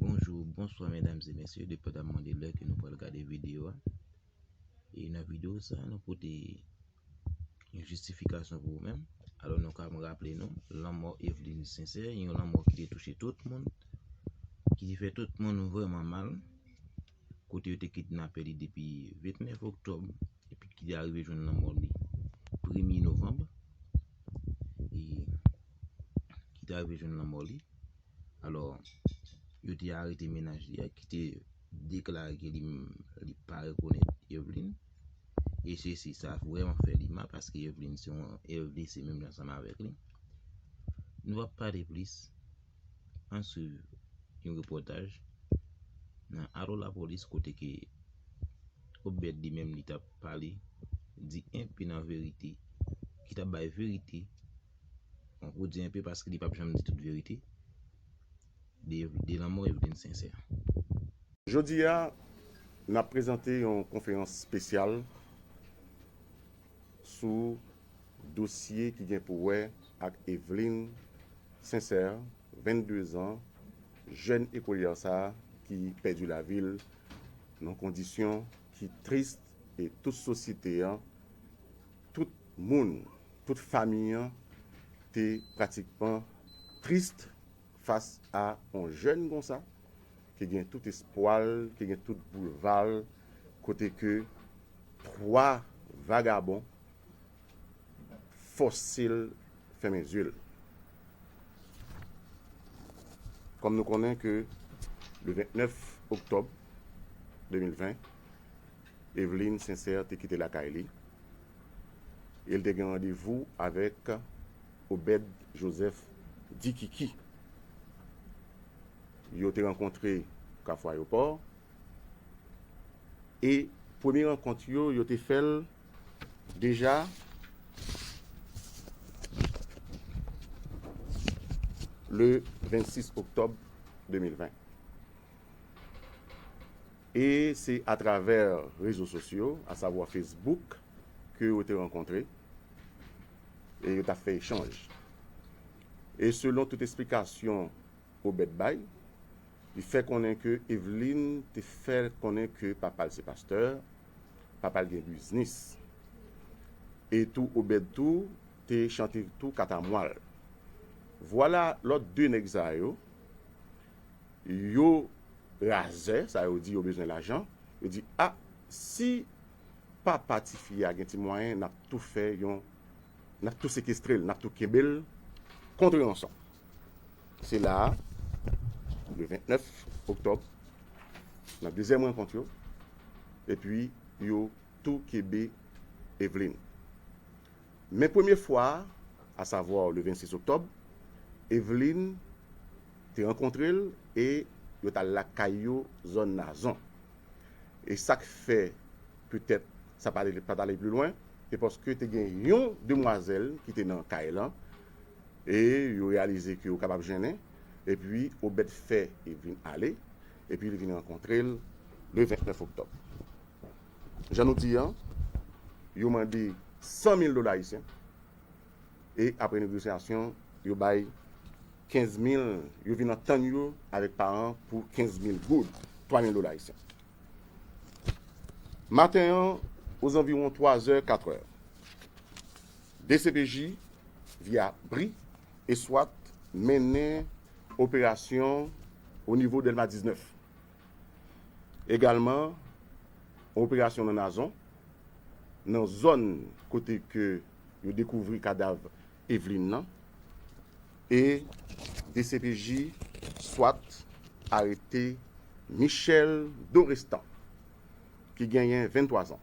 Bonjou, bonswa medam e mesye, depandan mwen de lè ke nou pral gade videyo a E nan videyo sa a nou pote yon jistifikasyon pou ou menm Alò nou ka mwen raple nou, lanmò Eveline Sincère, yon lanmò ki te touche tout moun Ki te fè tout moun vreman mal kote yo te kidnape li depi 29 oktòb epi ki te arive jwenn lanmò li premye novanb e ki te arive jwenn lanmò li alò yo te arete menaj li a ki te deklare ke li li pa rekonèt Evelyne e se si sa vreman fè li mal paske Evelyne se yon Evelyne se menm jan ansanm avèk li nou ap pale plis An swiv yon repòtaj nan Alo Lapolis kote ke Obed li menm li tap pale, di enpe nan verite, ki tap bay verite, bon pou di enpe paske li pap janm di tout verite, de lanmò Evelyne Sincère. Jodi a, n ap prezante yon konferans spesyal sou dosye ki gen pou wè ak Eveline Sincère, 22 zan, jèn ekolyè sa ki pèdi lavi l nan kondisyon ki tris e tout sosyete an, tout moun, tout fami an te pratikman tris fas a on jèn konsa ki gen tout espwa l, ki gen tout boulva l kote ke 3 vagabon fòse l fèmen zye l. Kòm nou konnen ke le 29 oktòb 2020, Eveline Sincère te kite lakay li e l te gen randevou avèk Obed Joseph Di Kiki. Yo te rankontre Kafou Ayopò e premye rankont yo, yo te fè l. Deja le 26 oktòb 2020 e se atravè rezo sosyo a savwa Facebook ke yo te rankontre e yo ta fè echanj. E selon tout esplikasyon Obed bay, li fè konnen ke Eveline te fè konnen ke papa l se pastè, papa l gen biznis e tou Obed tou te chante tou katamwa l vwala lòt 2 nèg sa yo yo razè sa yo di yo bezwen lajan yo di a si papa tifi a gen ti mwayen n ap tou fè yon n ap tou sekestre l n ap tou kenbe l kontre ansanm. Se la a, le 29 oktòb, nan dezyèm rankont yo, epi yo tou kebe Evelyne. Men premye fwa a, asavwa le 26 oktòb, Evelyne te rankontre l e yo t al lakay yo zòn Nazon. E sa k fè petèt sa pa t ale pli lwen, se paske te gen yon demwazèl ki te nan kay lan E yo reyalize ke yo kapab jennen, epi Obèd fè e vin ale, epi li vin rankontre l le 29 oktòb. Jan nou di an, yo mande 100 mil dola ayisyen, e apre negosyasyon, yo bay 15 mil, yo vin antann yo avèk paran pou 15 mil goud, 3 mil dola ayisyen. Maten an, ozanviwon 3 zè, 4 è. Dcpj, via bri, e swat mennen operasyon o nivo Dèlma 19. Egalman, yon operasyon nan Nazon, nan zòn kote ke yo dekouvri kadav Eveline nan, e dcpj, swat arete Michel Dorestan, ki genyen 23 zan.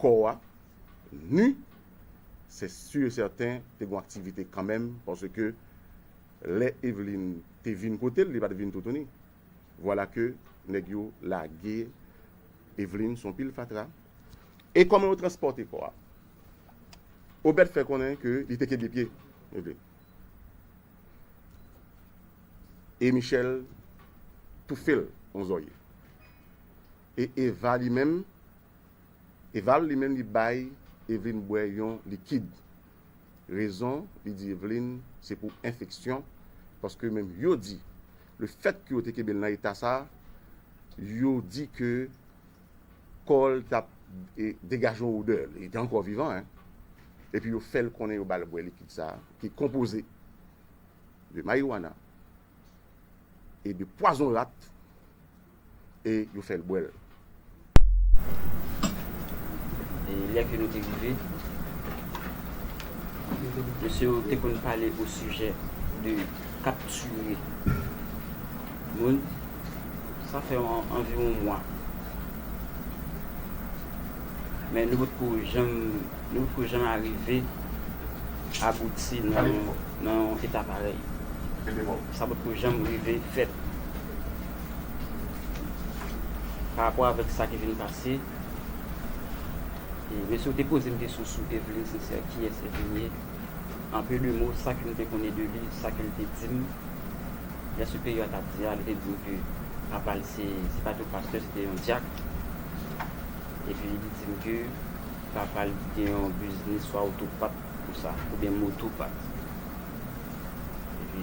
kò a nu se su e sèten te gon aktivite kanmenm paske lè Eveline te vin kotel li pat vin toutouni vwala ke nèg yo lage Eveline son pil fatra e kòman yo transpòte kò a Obed fè konnen ke li te kenbe pye Eveline e Michel toufel on zòrye. E Eva li menm? Eva li menm li bay Evelyne bwè yon likid. Rezon li di Evelyne se pou enfeksyon paske menm yo di le fèt ke yo te kenbe l nan eta sa yo di ke kò l t ap degaje yon odè, li te ankò vivan hein. Epi yo fè l konnen yo ba l bwè likid sa ki konpoze de marijuana e de pwazon rat. e yo fè l bwè l. E lè ke nou te rive, mesye yo te konn pale osijè de kaptire moun. Sa fè anviwon mwa. Men nou potko janm, nou potko janm arive abouti nan yon eta parèy. Sa potko janm rive fèt. Pa rapò avèk sa ki vin pase, e mesye ou te poze m kesyon sou Evelyne Sincère, kiyès Evelyne ye? En peu de mot, sa ke m te konnen de li, sa ke l te di m, lè siperyè a t ap di a, li te di m ke papa l se, se pa te yon pastè, se te yon dyak. Epi li di m ke papa l gen yon biznis swa otopat konsa, oubyen motopat. Epi.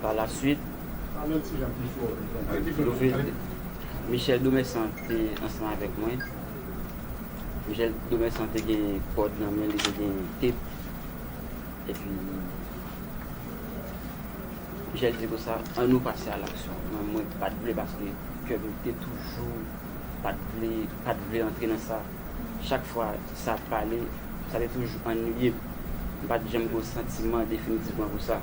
Pa la suit, Michel Domessan te ansanm avèk mwen. Michel Domessan te gen kòd nan men li, te gen tep. E pi, Michel di konsa, an nou pase a laksyon. Men mwen pa t vle paske kè m te toujou pa t vle, pa t vle antre nan sa. Chak fwa sa ap pale, sa te toujou annuiye m. M pa t janm gen yon santiman definitivman pou sa.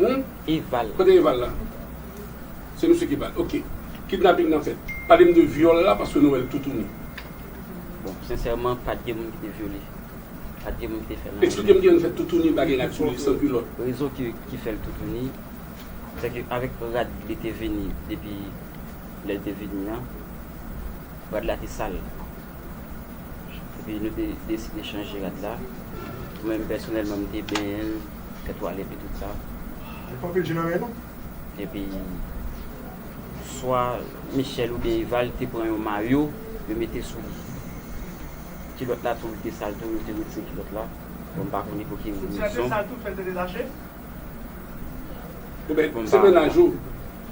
Hum? Eval. Kote Eval la? Se misye ki bat. Ok. Kidnaping nan fèt. Pale m de vyòl la paske nou wè l toutouni. Bon, sensèman pat gen moun ki te vyole. Pat gen moun ki te fè nan. Eksplike m kijan fè toutouni bagay rad sou li san kilòt. Rezon ki fè l toutouni, se ke avèk rad li te vini depi lè l te vini an, rad la te sal. Epi nou te deside chanje rad la. Mwen menm pèsonèlman m te benyen l. Tèt ou ale epi tout sa. Li pa anpil je nan lè non. Epi swa Michel oubyen Eval te pran yon mayo yo mete sou li. Kilòt la tou li te sal tou yo te retire kilòt la. Bon m pa konnen pou ki rezon. Senti a te sal tou fè l te detache? Oubyen se mennaj ou,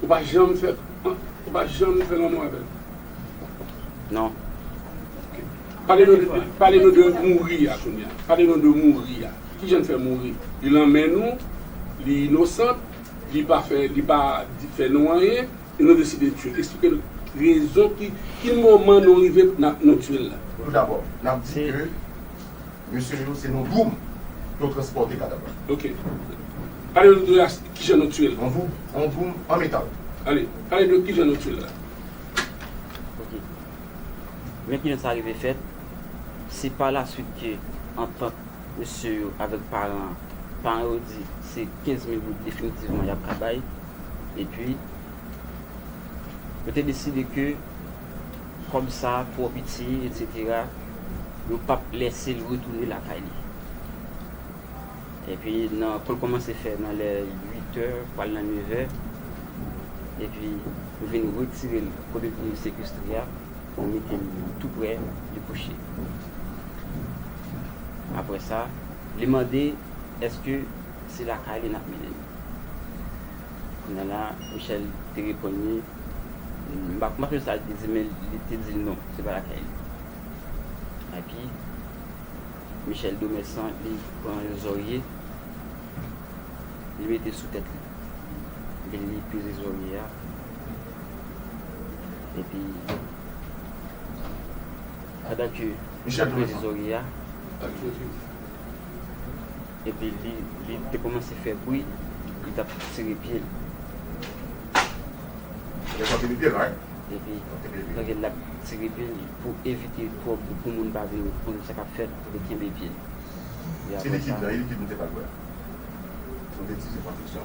ou pa janm fè ou pa janm fè lanmou avè l? Non. Ok. Pale nou de mouri a kounya. Pale nou de mouri a. Kijan l fè mouri? Li lan men nou, li inosant, li pa fè, li pa fè nou anyen, e nou deside tye l. Eksplike n rezon ki, ki moman nou rive nan, nou tye l la. Tou dabò, n ap di ke mesye yo se nan doum yo transpòte kadav la. Ok. Pale nou de as, kijan nou tye l. Yon doum, yon doum an metal. Ale, pale de kijan nou tye l la. Ok. Men kijan sa rive fèt, se pa la swit ke antant. Mesye yo avèk paran an. Paran yo di se 15 mil goud definitivman y ap ka bay. Epi, yo te deside ke kòb sa a twò piti, etsetera, yo p ap lèse l retounen lakay li. Epi, nan kou l kòmanse fè nan lè uitè, pral nan nevè, epi yo vin retire l kote l te sekestre a. Ou mete l tou prè li kouche. Aprè sa, li mande èske se lakay li n ap mennen l. Kounya la, Michèl te reponn li, m pa sonje sa li te di men li te di l non, se pa lakay li. Epi, Michèl Domèsan li pran yon zòrye, li mete sou tèt li. Epi li peze zòrye a. Epi, pandan ke li tap peze zorye a, epi li te koumanse fè bwi, li tap tire pye li. Epi, pandan ke lap tire pye li, pou evite twòp bwi, pou moun pa vin konn sa kap fèt, li kenbe pye li. Epi apre sa.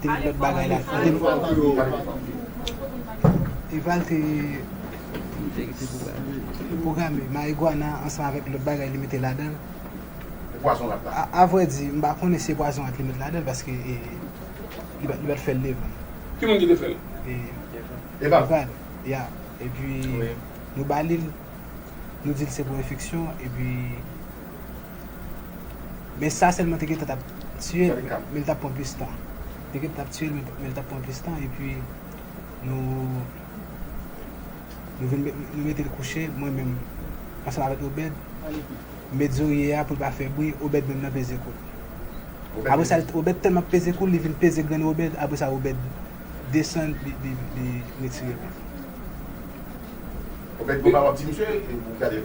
Te lot bagay la tou. Te lot bagay la tou. Eval te programe marijuana ansanm avèk lot bagay li mete ladanl. E pwazon rat la? A vrè di, m pa konnen si se pwazon rat li met ladanl paske li pa t fè l devan. Ki moun ki te fè l? Eval. Eval, ya. Epi nou ba li l, nou di l se pou enfeksyon epi Men sa selman te gentan tap tiyel men li tap pran plis tan. Te gentan tap tiyel men li tap pran plis tan epi nou nou vin met nou metel kouche mwen menm ansanm avèk Obed met zorye a poul pa fè bri Obed menm nan peze koul. Apre sa Obed tèlman ap peze koul li vin peze grenn Obed apre sa Obed desann li retirel. Obed konba wap di misye ou gadel.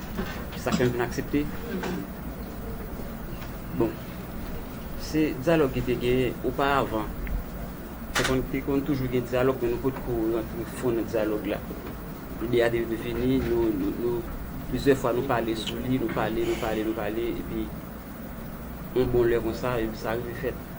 Sa fèm vin aksepte bon se dyalòg ki te genyen oparavan te konn te konn toujou gen dyalòg men nou potko rantre fon nan dyalòg la lide a te vini nou nou plizyè fwa nou pale sou li nou pale nou pale nou pale epi yon bon lè konsa epi sa rive fèt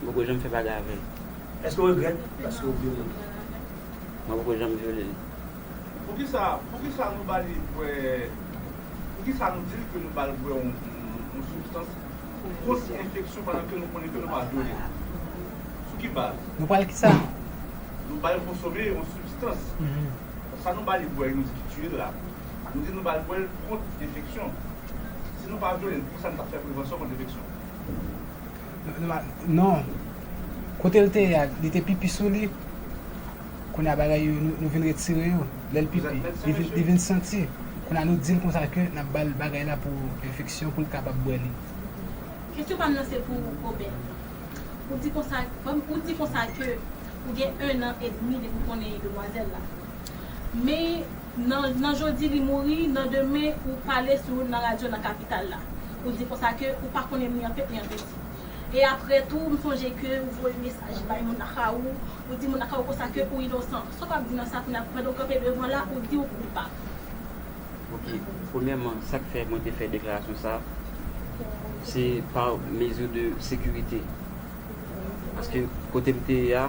M poko janm fè bagay avè l. Èske w regrèt paske w vyole l? Mwen poko janm vyole l. Poukisa poukisa nou ba li bwè poukisa nou di l ke nou ba l bwè yon sibstans pou kont enfeksyon pandan ke nou konnen ke nou pa vyole l? Sou ki baz? Nou pral kisa? Nou ba l konsome yon sibstans. Sa nou ba li bwè nou di ki tiye l la, nou di nou ba l bwè l kont enfeksyon. Si nou pa vyole l, poukisa nou pa fè prevansyon kont enfeksyon? Non Kote l te ye a li te pipi sou li Kounye a bagay yo nou vin retire yo Lè l pipi li vin santi Kounye a nou di l konsa ke n ap ba l bagay la pou enfeksyon pou l kapab bwè li Kesyon pa m nan se pou Robert Ou di konsa Ou di konsa ke ou gen 1 an edmi depi w konnen demwazèl la Men Nan nan jodi li mouri, nan demen ou pale sou nan radyo nan kapital la. Ou di konsa ke ou pa konnen ni an tèt ni an piti. E aprè tou m sonje ke ou voye mesaj bay moun nan ka ou, ou di moun nan ka ou konsa ke ou inosan. Sa w ap di nan sa kounye a pandan ou kanpe devan la ou di ou koupab? Ok, premyèman sa k fè mwen te fè deklarasyon sa se pa mezi de sekirite. Paske kote m te ye a.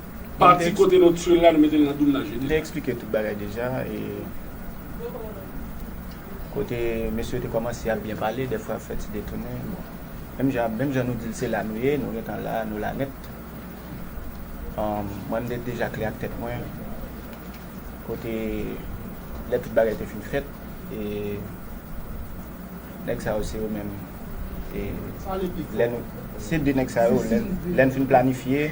Pati kote nou tchwil la nou metel nan doum nan jedi. M te eksplike tout bagay deja e kote mesye yo te kòmanse ap byen pale dèfwa ap fè ti detounen bon menm jan nou dil se la nou ye nou gentan la nou la nèt mwen m te deja klè ak tèt mwen kote lè tout bagay te fin fèt e nèg sa yo se yo menm se de nèg sa yo lè n fin planifye.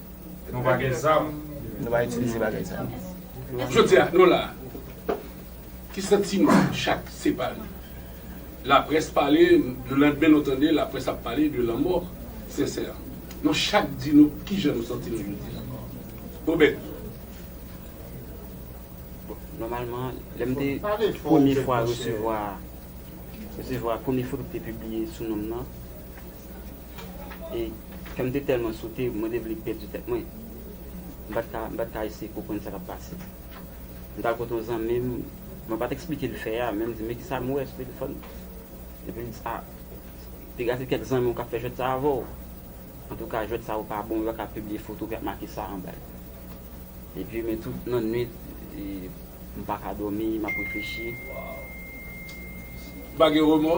Nou pa gen zam. Nou pa itilize bagay sa yo. Jodi a, nou la a. Ki santiman chak separe? Laprès pale, le landmen nou tande laprès ap pale de lanmò Sensè. Nou chak di nou ki jan nou santi nou jodi a. Obed. Nòmalman, lè m te premye fwa resevwa, resevwa premye foto ki te pibliye sou non m nan. e kè m te tèlman sote mwen te vle pèdi tèt mwen. M pa t ka, m pa t ka eseye konprann sa k ap pase. M t al kote yon zanmi m, mwen pa t eksplike l fè a, men m di, men ki sa m wè sou telefòn nan? Epi l di, a, te gen ase kèk zanmi w k ap fè jwèt sa a avè w. Antouka, jwèt sa yo pa bon, yo pa ka pibliye foto ki ap make sa anba yo. Epi, men tout nannuit, m pa ka dòmi, m ap reflechi. Ou pa gen remò?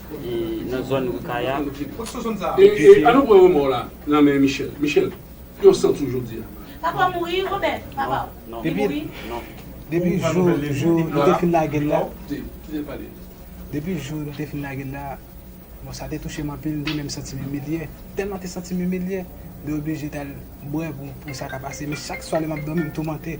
nan zòn Ri Kaya. E an nou pran remò la nan men Michel. Michel, yon san tou jodi a. Papa w mouri, Robert? Papa w li mouri? Depi jou nou te fin lage l la. Depi jou nou te fin lage l la. Bon, sa te touche m anpil. M te menm santi m imilye. Tèlman m te santi m imilye. M te oblije t al bwè pou sa ka pase. Men chak swa lè m ap dòmi, m toumante.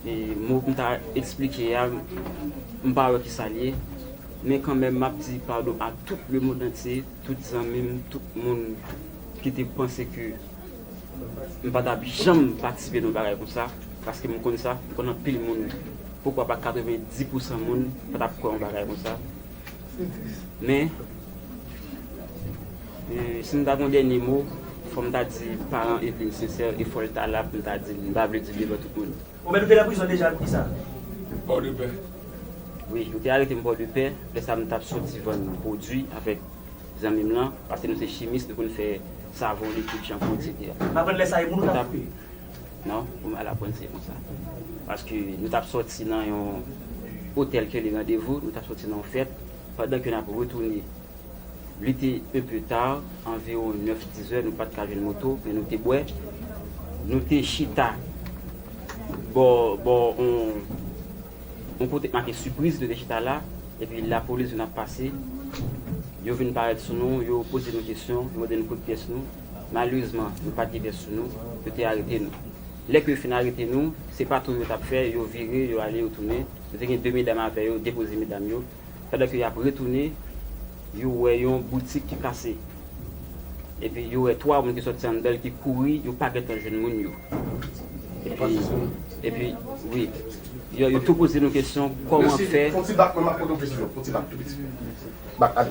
Mo pou m ta esplike a, m pa wè ki sa l ye. Men kanmenm m ap di padon a tout lemondantye, tout zanmi m, tout moun ki te panse ke m pa t ap janm patisipe nan yon bagay konsa. Paske m konn sa, m konn anpil moun, poukwa pa 90 pousan moun pa t ap kwè yon bagay konsa. Men, si m ta gen yon dènye mo, fò m ta di paran Eveline Sincère e fò l ta la pou m ta di l, m pa vle di l devan tout moun. Bon men nou te nan prizon deja pou kisa? Pòdepè. Wi, yo te arete m Pòdepè, lè sa m t ap soti vann pwodui avèk zanmi m lan, paske nou se chimis, nou konn fè savon, likid, chanpou, eksetera. M aprann lè sa e moun ou t ap koupe? Non, pou m al aprann se konsa. Paske nou t ap sòti nan yon otèl kele randevou, nou t ap sòti nan yon fèt, pandan ke n ap retounen. L ete un peu tard, anviwon nèf, dizè, nou pa t ka jwenn moto, men nou te bwè. Nou te chita bò, bò on, on kote k make Surprise, nou te chita la, epi lapolis vin ap pase. Yo vin parèt sou nou, yo poze nou kesyon, yo mande nou kot pyès nou. Malerezman, nou pa t gen bèf sou nou, yo te arete nou. Lè ke yo fin arete nou, se patou yo t ap fè, yo vire, yo ale, yo tounen. Yo te gen de medam avè yo, depoze medam yo. Pandan ke y ap retounen, yo wè yon boutik ki kase. Epi yo wè twa moun ki sòti anndan l ki kouri, yo pa gen tan jwenn moun yo. Epi, epi, wi. Yo, yo tou poze nou kesyon, kòman fè. Mèsi. Fon ti bak, mwen m ap poze w kesyon. Fon ti bak, tou piti. Bak, ale.